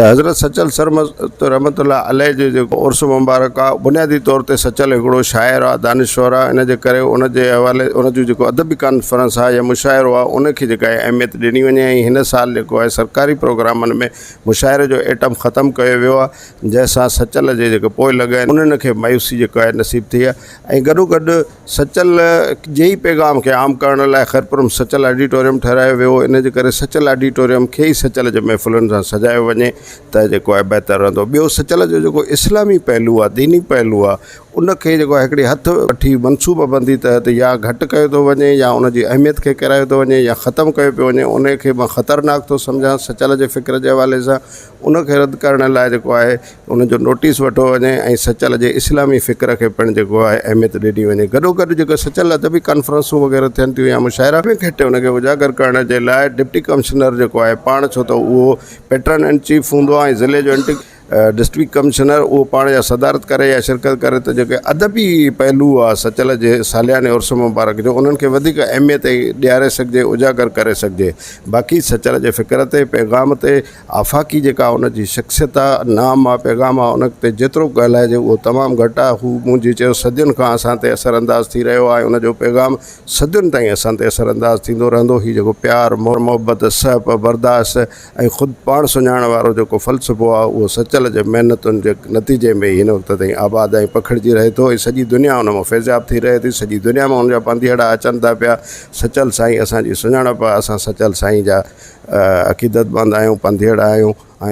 حضرت سچل سرمست رحمة الله عليه جو جيڪو عرس مبارڪ آ بنيادي طور تي سچل هڪڙو شاعر آ دانشور آ ان جي ڪري ان جي حوالي ان جو جيڪو ادبي ڪانفرنس آ يا مشاعرو آ ان کي جيڪا آهي اهميت ڏني وڃي ۽ هن سال جيڪو آهي سرڪاري پروگرامن ۾ مشاعري جو ائٽم ختم ڪيو ويو آ جنهن سان سچل جي جيڪو پوء لڳ آهن انهن کي مايوسي جيڪا آهي نصيب ٿي آ ۽ گڏو گڏ سچل جي ئي پيغام کي عام ڪرڻ لاء خيرپورم سچل آڊيٽوريم ٺهرايو ويو هو، ان جي ڪري سچل آڊيٽوريم کي ئي سچل جي محفلن سان سجايو وڃي ته جيڪو آهي بهتر رهندو. ٻيو سچل جو جيڪو اسلامي پهلو آهي، ديني پهلو آهي، ان کي جيڪو آهي هڪڙي هٿ وٺي منصوبه بندي تحت يا گهٽ ڪيو ٿو وڃي يا ان جي اهميت کي ڪيرايو ٿو وڃي يا ختم ڪيو پيو وڃي، انهي کي مان خطرناڪ ٿو سمجهان سچل جي فڪر جي حوالي سان. ان کي رد ڪرڻ لاء جيڪو آهي ان جو نوٽيس وٺو وڃي ۽ سچل جي اسلامي فڪر کي پڻ جيڪو آهي اهميت ڏني وڃي گڏو گڏ جيڪو سچل ادبي ڪانفرنسون وغيره ٿين ٿيون يا مشاعرا ان کي ان کي اجاگر ڪرڻ جي لاء ڊپٽي ڪمشنر جيڪو آهي پاڻ ڇو ته اهو پيٽرن اينڊ چيف هوندو آهي ۽ ضلعي جو اينٽ ڊسٽرڪٽ ڪمشنر اهو پاڻ يا صدارت ڪري يا شرڪت ڪري ته جيڪي ادبي پهلو آهي سچل جي سالياني عرس مبارڪ جو انهن کي وڌيڪ اهميت ڏياري سگهجي اجاگر ڪري سگهجي باقي سچل جي فڪر تي پيغام تي آفاقي جيڪا ان جي شخصيت آ، نام آ، پيغام آ، ان تي جيترو ڪهلائجي اهو تمام گهٽ آ. هو مون جي چيو صدين کان اسان تي اثر انداز ٿي رهيو آ ۽ ان جو پيغام صدين تائين اسان تي اثر انداز ٿيندو رهندو. هي جيڪو پيار، محبت، سهپ، برداشت ۽ خود پاڻ سڃاڻڻ وارو جيڪو فلسفو آ، اهو سچل جي محنتن جي نتيجي ۾ ئي هن وقت تائين آباد ۽ پکڙجي رهي ٿو ۽ سڄي دنيا ان مان فيضياب ٿي رهي ٿي. سڄي دنيا مان ان جا پانڌيئڙا اچن ٿا پيا. سچل سائين اسان جي سڃاڻپ آ اسان سچل سائين جا عقيدت مند آهيون پنڌيئڙا آهيون ۽